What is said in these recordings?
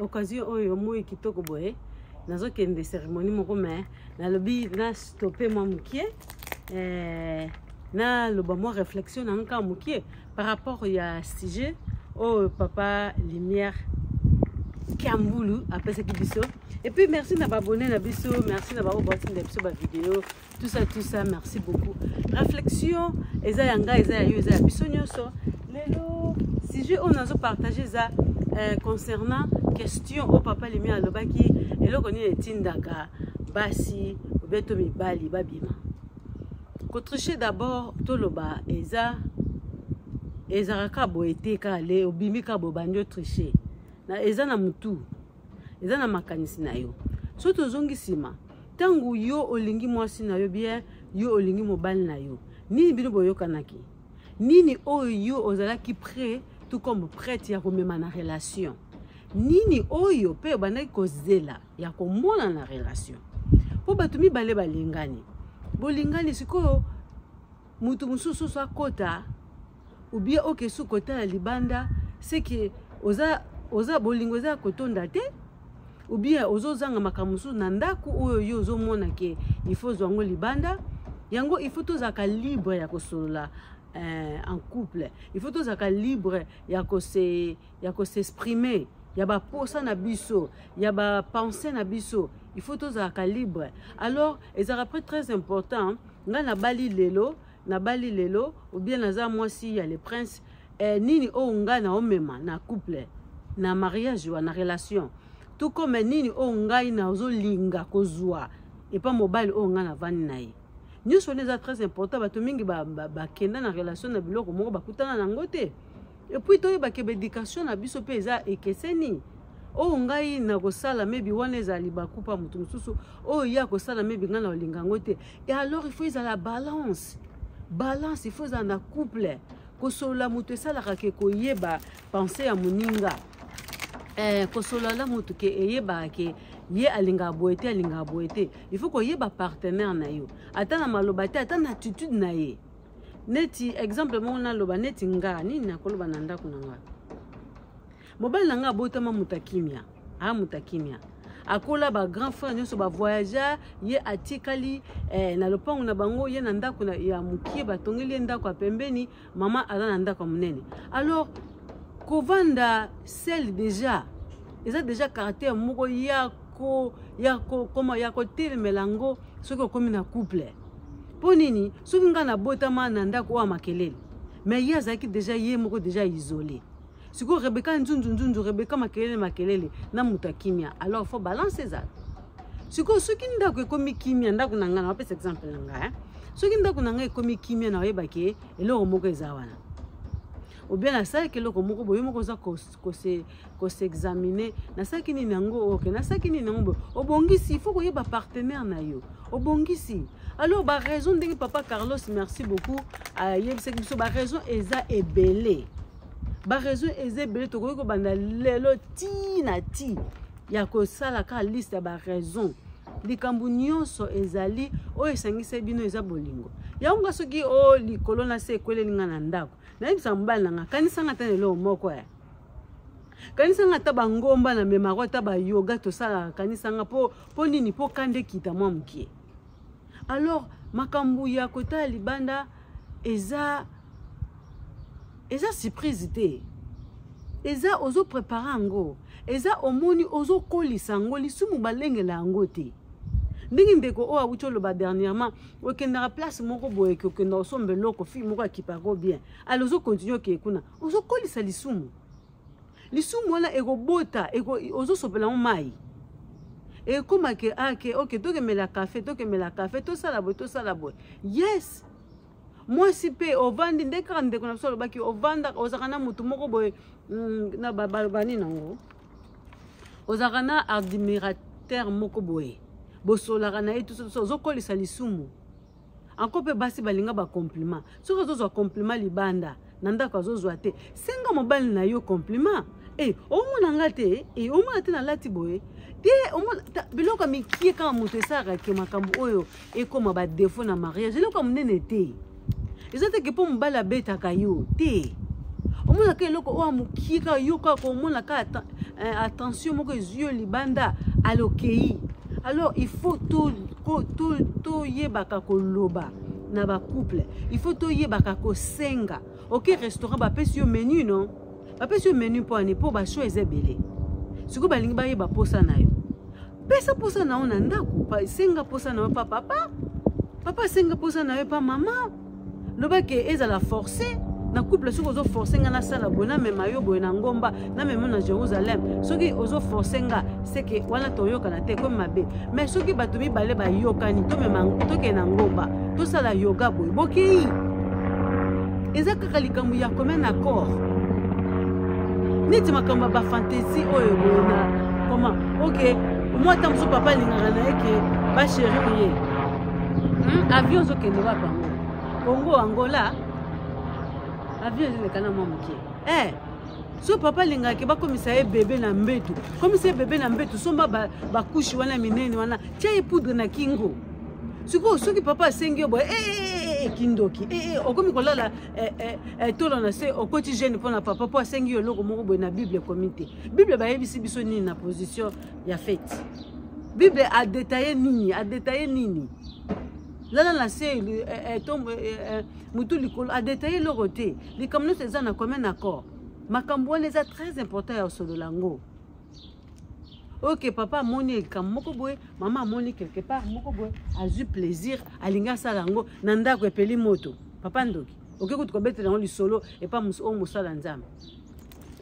occasion oyo moi kitoko boye nazokende cérémonie moko me nalobi na stope mwa mokie eh, naloba mwa réflexion na nka mokie par rapport ya sujet oyo papa lumière kiambulu apesaki biso epuis merci na baabone na biso merci na baoyo batinda biso bavideo tout ça tout ça merci beaucoup réflexion eza ya ngai eza ya yo eza ya biso nyonso lelo sujet oyo nazo partage eza euh, concernant question oyo papa limi alobaki eloko nini etindaka basi obeto mibali babima kotriche d'abord toloba eza ezalaka kaka boye te kaka le obimi kaka boye bandi otriche eza na motu eza na makanisi na yo soki tozongi nsima ntango yo olingi mwasi na yo bien yo olingi mobali na yo nini bino boyokanaki nini oyo yo ozalaki prêt tout comme prête ya komema na relation nini oyo mpe obandaki kozela ya komona na relation mpo bato mibale balingani bolingani sikoyo moto mosusu akota ou bien oke su kotala libanda c'est que oza oza bolingo eza kotonda te ou bien ozozanga makambo mosusu na ndako oyo yo ozomona ke il faut ozwa yango libanda yango il faut tozalaka libre ya kosolola euh, en couple il faut tozalaka libre ya kose ya kosexprimer ya baposa na biso ya bapense na biso il faut tozalaka libre alors ezalaka pre très important ngai nabali lelo nabali lelo obien naza mwasi ya le prince eh, nini oyo ngai naomema na couple na mariage wana relation tout comme nini oyo ngai nazolinga kozwa epa mobali oyo ngai navandi na ye nyonso wana eza très important bato mingi bakenda ba, ba na relation na biloko moko bakutana na yango te epuis toyeba ke baeducation na biso mpe eza ekeseni oyo ngai nakosala maybe wana ezala libaku mpa moto mosusu oyo ye akosala maybe ngai nakolinga yango te e alors il faut ezala balance balance il faut ezala na couple kosolola moto esalaka ke koyeba pense ya moninga eh, kosolola moto ke eyebaka ke ye alingaka boye te alingaka boye te il faut koyeba partenaire na yo ata na maloba te ata na attitude na ye neti exemple moko naloba neti nga nini nakoloba na ndako na nga mobali na nga abotama moto ya kimia aa moto ya kimia akola ba grand frère nyonso bavoyagea ye atikali eh, na lopango na bango ye na ndako ya mokie batongeli ye ndako ya pembeni mama aza na ndako ya monene alors kovanda sel déjà eza déjà caractère moko ya ko ya ko koma ya kotelemela yango soki okomi na couple mpo nini soki ngai nabotama na ndako oyo ya makelele mais ye azalaki deja ye moko deja isole sikoyo rebeka nzunzunzunzu rebeka makelele makelele na moto ya kimia alors fo balance ezala sikoyo soki ndako ekomi kimia ndako na ngai napesa exemple na ngai eh? soki ndako na ngai ekomi kimia na oyebaki eloko moko eza wana obien nasalaki eloko moko boye moko oza kosexamine nasalaki nini yango oke nasalaki nini yango boye obongisi il faut koyeba partenaire na yo obongisi alors baraison ndenge papa carlos merci beaucoup ayebisaki biso baraison eza ebele baraison eza ebele tokoki kobanda lelo ti na ti ya kosala kaka liste ya baraison likambo nyonso ezali oyo esangisa bino eza bolingo yango nga soki o oh, likolo na se ekweleli nga na ndako nayebisaka mobali na nga kanisanga ata na eloko moko ya eh. kanisanga ata bangomba na memako ata bayoga tosalaka kanisanga mpo nini mpo kanda ekita mwa mokie alors makambo ya kotala libanda eza eza surprise te eza ozo prépare yango eza omoni ozokolisa yango lisumu balengela yango te ndenge ndeko oyo awuti oloba dernièrement okendaka place moko boye ke okenda osomba eloko fille moko akipako bien ale ozokontinue okeye kuna ozokolisa lisumu lisumu wana ekobota eko, ozosopela yango mai ekóma ke ake ah, oke tokemela kafe tokemela kafe tosala boye tosala boye yes mwasi mpe ovandi nde kaka ndeko na biso alobaki ovandaka ozalaka na motu moko boye mm, na balobani nango ozalaka na admirateur moko boye bosolaka na ye tusotuso ozokolisa lisumu anko mpe basi balinga bacompliment soki azozwa compliment libanda na ndako azozwa te senga mobali na yo compliment e eh, omona nga te e omona te nalati boye te omona biloko ya mikie kaka moto esalaka ke makambo oyo ekoma ba défaut na mariage eloko ya monene te eza te ke mpo mobali abetaka yo te omonaka eloko oyo amokie kaka yo kaka komona kaka eh, attention moko ezwi yo libanda alokei alors il faut toyebaka koloba na bacouple il faut toyebaka kosenga oke restaurant bapesi yo menu non bapesi yo menu mpo ani mpo basho eza ebele sikoyo balingi bayeba mposa na yo pesa mposa na yo na ndako senga mposa na yo pa papa papa senga mposa na yo pa mama loba ke ezala force na couple soki ozo force nga nasala boye namema yo boye na ngomba namema na jérusalem soki ozo force nga seke wana toyokana te ekomi mabe mai soki bato mibale bayokani tokende na ngomba tosala yoga boye bokei eza kaka likambo ya commun accord neti makambo ya bafantasi oyo boye na koma ok mwa ata mosusu papa alingaka na ye ke basheri ye hmm, avion ozokende wapi yango kongo angola avion ezoleka na mwa moke eh so papa alingaka ke bakomisa ye bebe na mbetu komisa ye bebe na mbetu somba bakushi wana minene wana tia ye poudre na kingo sikoyo soki papa asengi yo boye eh, eh, eh, kindoki okomi kolala tolo na se okoti jeune mpo na papa mpo asengi yo eloko moko boye na bible ekomi te bible bayebisi biso nini na position ya fete bible adetaye nini adetaye nini lala na se mutu likolo adetaille eloko te likambo nyonso eza na commun accord makambo wana eza très important ya osolola yango oke papa amoni likambo moko boye mama amoni quelque part moko boye azwi plaisir alingi asala yango na ndako epeli moto papa ndoki oke kutu kobetela yango lisolo epa oyo mosala nzambe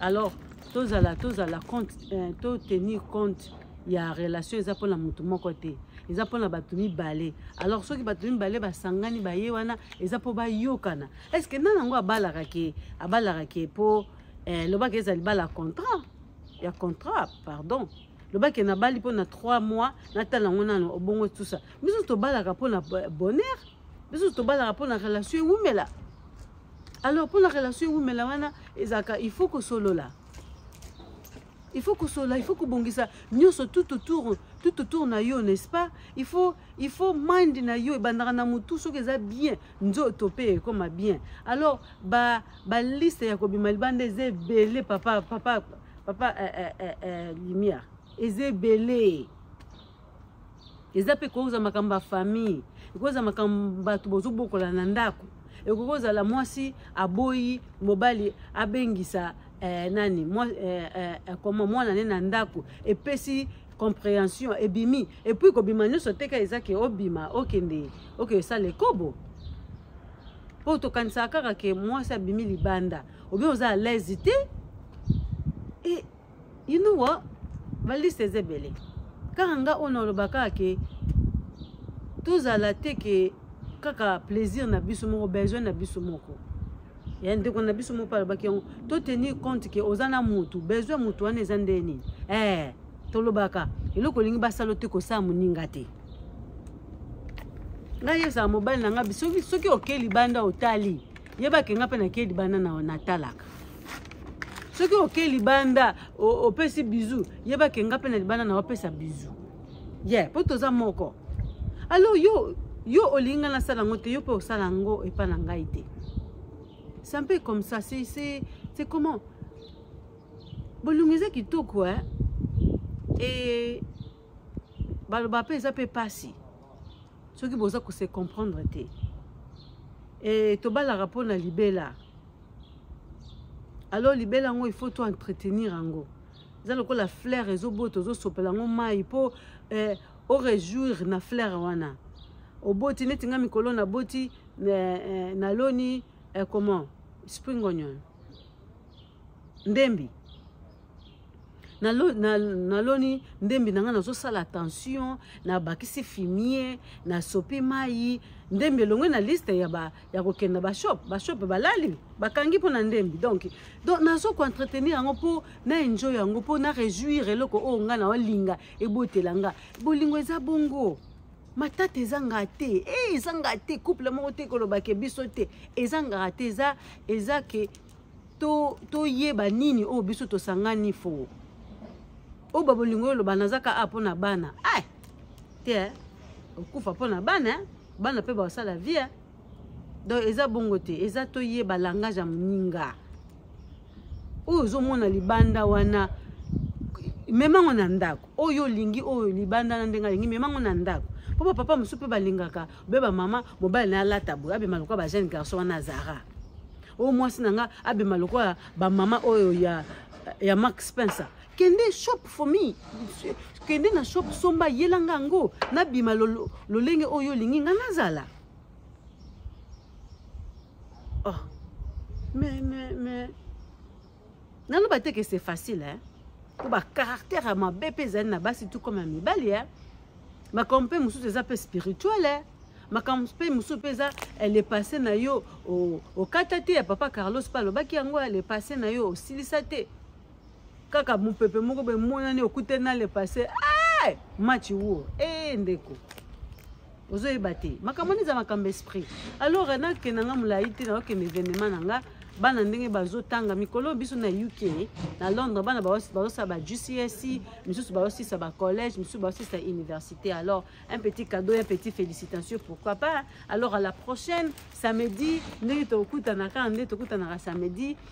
alors tozala tozala compte euh, to tenir compte ya relation eza mpona motu moko te eza mpona bato mibale alors soki bato mibale basangani baye wana eza mpo bayokana est ce que nani yango abalaka ke abalaka ke mpo eh, lobaka eza libala contrat ya contrat pardon lobaki nabali mpo na 3 mois natala yango nano obongo tusa biso tobalaka mpo na bonheur biso tobalaka mpo na relation ewumela alors mpo na relation ewumela wana ezalaka il faut kosolola il faut kosolola il faut kobongisa nyonso tout autour tout autour na yo n'est-ce pas il faut il faut mind na yo ebandaka na motu soki eza bien nzoto mpe ekoma bien alors ba ba liste ya kobima libanda eza ebele papa papa papa eh, eh, eh, eh, lumière eza ebele eza mpe ekoki kozala makambo ya famille ekoki kozala makambo bato bozobokola na ndako ekoki kozala mwasi aboyi mobali abengisa eh, nani mwa, eh, eh, eh koma mwana ne na ndako epesi comprehension ebimi epuis kobima nyonso teka eza ke obima okende okende osala ekobo mpo tokanisaka kaka ke mwasi abimi libanda obi oza alaise te e inuwa baliste eza ebele kaka nga oyo nalobaka ke tozala te ke kaka plaisir na biso moko besoin na biso moko ya ndeko na biso moko alobaki yango to tenir compte ke oza na motu besoin ya motu wana eza nde nini eh, tolobaka eloko olingi basala te kosala moninga te ngai yebisaka mobali na ngai soki, soki okei libanda otali yebake ngai mpe nakei libanda na natalaka soki oke libanda opesi bizu yeba ke nga mpe na libanda na opesa bizu ye yeah, mpo toza moko alors yo yo olingi ngai nasala yango te yo mpe osala yango epai na ngai te c'est un peu comme ça c'est c'est c'est comment bolongo eza kitoko hein et baloba mpe eza mpe mpasi soki boza kose comprendre te e, tobalaka mpo na libela alors libela yango il faut to entretenir yango eza lokola flaire ezobota ozosopela yango mai mpo eh, orejouir na flaire wana oboti neti nga mikolo naboti eh, eh, naloni eh, comment spring onion ndembi naloni ndembi na ngai nazosala attention nabakisi fimie nasopi mai ndembi elongwe na liste ya, ba, ya kokenda bashop bashop balali bakangi mpo na ndembi donc donc nazokoentretenir yango mpo na enjoy yango mpo na réjouir eloko oyo ngai naolinga ebotela nga bolingo eza bongo matata ezanga te e eh, ezanga te couple moko te kolobake biso te ezanga te eza eza ke toyeba to nini oyo biso tosangani foo oyo babolingo oyo loba nazaka a ah, mpo na bana ai eh, te eh. okufa mpo na bana bana mpe basala vie donc eza bongo te eza toyeba langage ya moninga oyo ozomona libanda wana memango na ndako oyo olingi oyo libanda na ndenge alingi memango na ndako mpo bapapa mosusu mpe balingaka obe bamama mobali na alata boye abema lokola bajeune garçon wana azara oyo mwasi na nga abema lokola bamama oyo ya, ya mark spencer kende shop for me kende na shop somba yela nga yango nabima lolenge lo, oyo olingi nga nazala oh. mais mais mais naloba te ke c'est facile hein? mpo bacaractère ya mabe mpe ezali na basi tout comme ya mibali hein? makambo mpe mosusu eza mpe spirituel hein? makambo mpe mosusu mpe eza eh, le passé na yo okata te ya papa carlos mpe alobaki yango ya le passé na yo osilisa te kaka mopepe moko boye monani okutani na le passé hey! match wo ee hey, ndeko ozoyeba te makambo wana eza makambo esprit alors nakenda nga molai te nakokende evenement na nga bana ndenge bazotanga mikolo biso na uk na londres bana bazosala ba gcse misusu bazosilisa bacollège misusu bazosilisa université alors un petit cadeau un petit félicitation pourquoi pas alors à la prochaine samedi ndenge tokokutanaka nde tokutanaka samedi